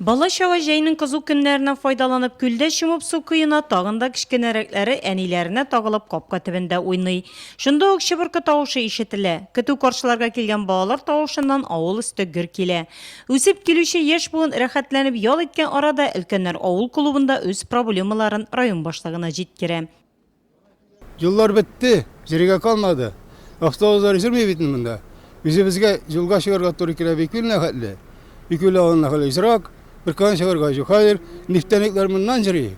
Бала-чага җәйнең кызу көннәреннән файдаланып күлдә чумып су коена, тагын да кечкенәрәкләре әниләренә тагылып капка төбендә уйный. Шунда ук чыбыркы тавышы ишетелә. Көтү каршыларга килгән балалар тавышыннан авыл өсте гөр килә. Үсеп килүче яшь буын рәхәтләнеп ял иткән арада өлкәннәр авыл клубында үз проблемаларын район башлыгына җиткерә. Юллар бетте, йөрергә калмады. Автобуслар йөрми бит монда. Үзебезгә юлга чыгарга туры килә бик үлнә хәтле. Бик үлә алына хәле исрак. Бер кан чыгарга юк. Хәер, нефтяниклар моннан йөри.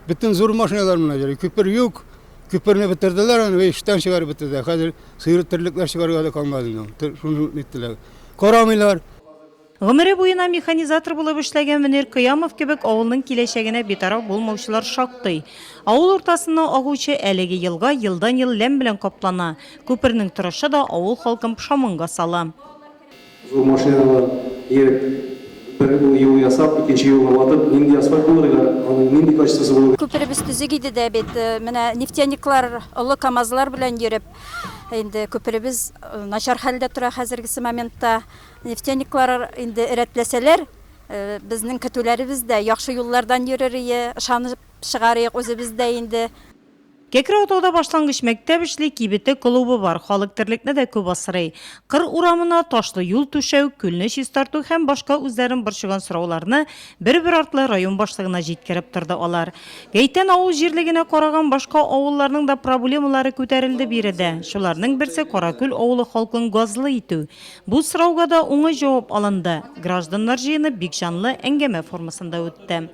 Бөтен зур машиналар моннан йөри. Күпер юк. Күперне бетерделәр аны, эштән чыгарып бетерделәр. Хәзер сыер терлекләр чыгарга да калмады. Шуны иттеләр. Карамыйлар. Гомере буена механизатор булып эшләгән Мөнир Кыямов кебек авылның киләчәгенә битараф булмаучылар шактый. Авыл уртасыннан агучы әлеге елга елдан-ел ләм белән каплана, күпернең торышы да авыл халкын пошаманга сала. Зур машиналар ияреп, бер юл ясап, икенче юлга ватып, нинди асфальт булыр иде, аның нинди качествосы булыр иде? Күперебез төзек иде дә бит, менә нефтяниклар олы КАМАЗлар белән йөреп, инде күперебез начар хәлдә тора хәзергесе моментта. Нефтяниклар инде рәтләсәләр, безнең көтүләребез дә яхшы юллардан йөрер ие, ышанып чыгарыйк үзебез дә инде. Кәкре Атауда башлангыч мәктәп эшли, кибете, клубы бар, халык терлекне дә күп асрый. Кыр урамына ташлы юл түшәү, күлне чистарту һәм башка үзләрен борчыган сорауларны бер-бер артлы район башлыгына җиткереп торды алар. Гәйтән авыл җирлегенә караган башка авылларның да проблемалары күтәрелде биредә. Шуларның берсе Каракүл авылы халкын газлы итү. Бу сорауга да уңай җавап алынды. Гражданнар җыены бик җанлы әңгәмә формасында үтте.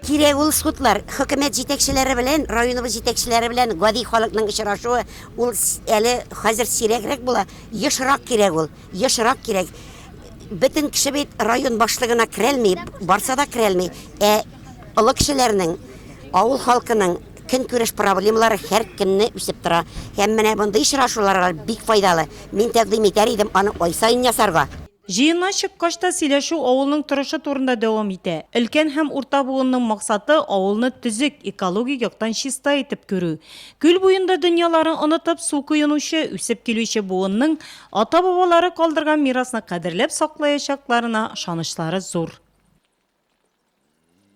Кирәк ул судлар. Хөкүмәт җитәкчеләре белән районыбыз җитәкчеләре белән гади халыкның очрашуы, ул әле хәзер сирәгрәк була. Ешрак кирәк ул, ешрак кирәк. Бөтен кеше бит район башлыгына керәлми, барса да керәлми. Ә олы кешеләрнең, авыл халкының, Көнкүреш проблемалары һәркемне үсеп тора. Һәм менә мондый очрашуларга бик файдалы. Мин тәкъдим итәр идем аны ай саен ясарга. Җыеннан чыккач та сөйләшү авылның торышы турында дәвам итә. Өлкән һәм урта буынның максаты, авылны төзек, экологик яктан чиста итеп күрү. Күл буенда дөньяларын онытып, су коенучы, үсеп килүче буынның ата-бабалары калдырган мирасны кадерләп саклаячакларына ышанычлары зур.